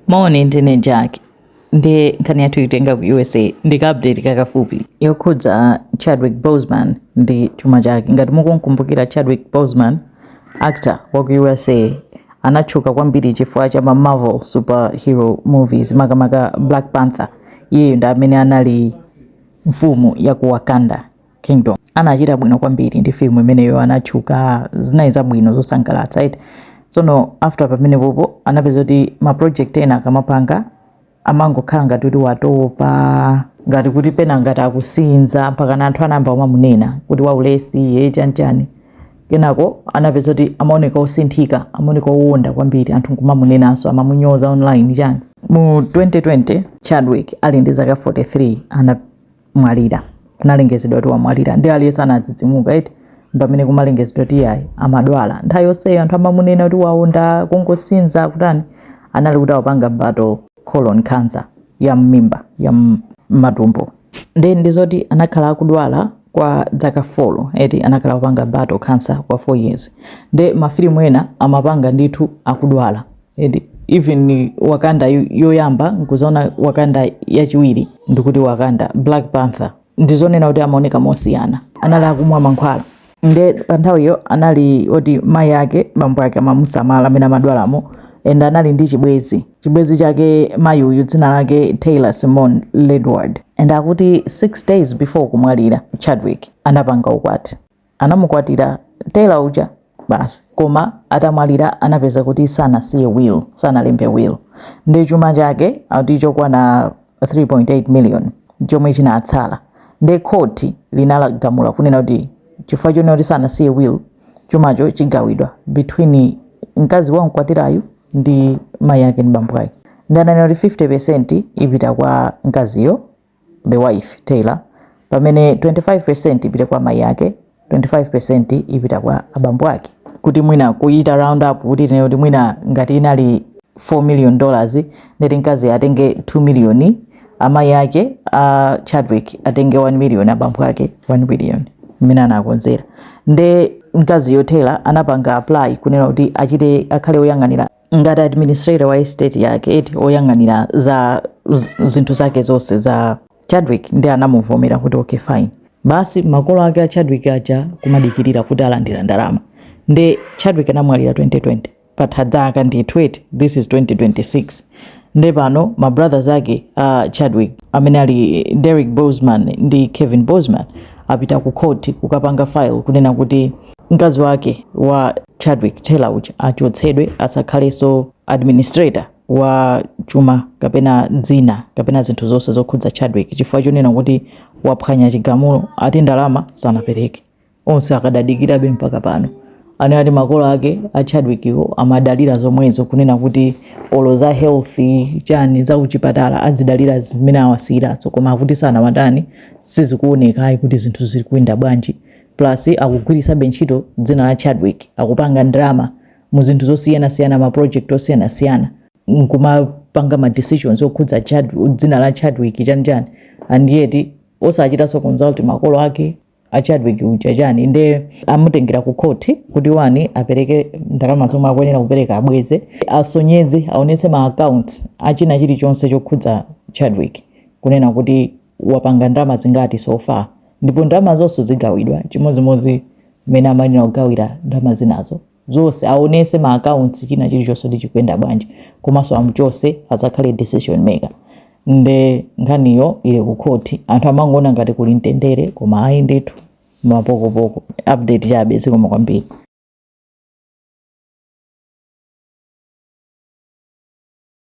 Moni ndine Jack nde nkhani yathu ikutenga ku usa ndi ka update kakafupi yokhudza chadwick boseman ndi chuma chake ngati mukukumbukira chadwick boseman actor wa ku usa anatchuka kwambiri chifukwa cha ma marvel superhero movies makamaka black panther iyeyo ndi amene anali mfumu ya ku wakanda Kingdom. Anachita bwino kwambiri ndi film imeneyo anatchuka zinali zabwino zosangalatsa eti. Tsono after pamene popo anapeza kuti ma project ena akamapanga amangokhala ngati kuti watopa ngati kuti pena ngati akusinza mpakana anthu anayamba kumamunena kuti waulesi iye chanchani kenako anapeza kuti amaoneka osinthika amaoneka owonda kwambiri anthu nkumamunenanso amamunyoza online chani mu 2020 chadwick ali ndi zaka 43 ana mwalira. Kunalengezedwa kuti wamwalira. Ndiye aliyense anadzidzimuka eti. Mpamene kumalengezedwa kuti iyayi amadwala. Nthawi yonseyo anthu amamunena kuti waonda, kungosinza, kutani. Anali kuti akupanga battle colon cancer ya mmimba, ya mmatumbo. Ndiye ndizoti anakhala akudwala kwa dzaka 4 eti anakhala kupanga battle cancer kwa 4 years. Ndiye mafilimu ena amapanga ndithu akudwala. eti even wakanda yo- yoyamba nkuzaona wakanda yachiwiri ndikuti wakanda black panther ndizonena kuti amaoneka mosiyana anali akumwa mankhwala nde pa nthawiyo anali oti mayi ake bambo ake amamusamala mmene amadwalamo and anali ndi chibwezi chibwezi chake mayi uyu dzina lake taylor simone ledward and akuti 6 days before kumwalira chadwick anapanga ukwati anamukwatira taylor uja basi koma atamwalira anapeza kuti sanasiye will sanalembe will nde chuma chake akuti chokwana 3.8 million chomwe chinatsala nde khoti linagamula kunena kuti chifukwa chonena kuti sanasiye will chumacho chigawidwa between mkazi wamukwatirayu ndi mayi ake ndi bambo ake nde ananena kuti 50 percent ipita kwa mkaziyo the wife, Taylor, pamene 25% ipite kwa mai ake, 25% ipita kwa abambo ake. Kuti mwina kuchita round up kuti tinene kuti mwina ngati inali 4 million dollars ndeti mkazi atenge 2 million, amayi ake a Chadwick atenge 1 million, abambo ake 1 million mmene anakonzera. Nde mkaziyo Taylor anapanga apply kunena kuti achite akhale woyang'anira ngati administrator wa estate yake eti oyang'anira za zinthu zake zonse za Chadwick nde anamuvomera kuti okay fine basi makolo ake a Chadwick aja kumadikirira kuti alandira ndalama nde Chadwick anamwalira 2020 patha zaka ndi twe- this is 2026 nde pano ma brothers ake a uh, Chadwick amene ali Derek Boseman ndi Kevin Boseman apita ku court kukapanga file kunena kuti mkazi wake wa Chadwick Taylor uja achotsedwe asakhalenso administrator wa chuma kapena dzina kapena zinthu zonse zokhudza Chadwick chifukwa chonena kuti waphwanya chigamulo ati ndalama sanapereke onse akadadikirabe mpaka pano anati makolo ake a Chadwick iwo amadalira zomwezo kunena kuti olo za health chani za kuchipatala azidalira zimene awasiyirazo koma akuti sanawatani sizikuoneka ayi kuti zinthu zikuyenda bwanji plus akugwiritsabe ntchito dzina la Chadwick akupanga ndalama mu zinthu zosiyana siyana ma project osiyana siyana nkumapanga ma decisions okhudza Chad, dzina la Chadwick chani chani and yet osachitanso consult makolo ake a Chadwick uja chani nde amutengera ku court kuti one apereke ndalama zomwe akuyenera kupereka abweze asonyeze aonetse ma accounts achina chilichonse chokhudza Chadwick kunena kuti wapanga ndalama zingati so far ndipo ndalama zonse zigawidwa chimodzimodzi mmene amayenera kugawira ndalama zinazo zonse aonetse ma accounts china chilichonse kuti chikuyenda bwanji komanso amuchotse asakhale decision maker nde nkhaniyo ili ku khoti anthu amangoona ngati kuli mtendere koma ayi ndithu mapokopoko update chabe zikomo kwambiri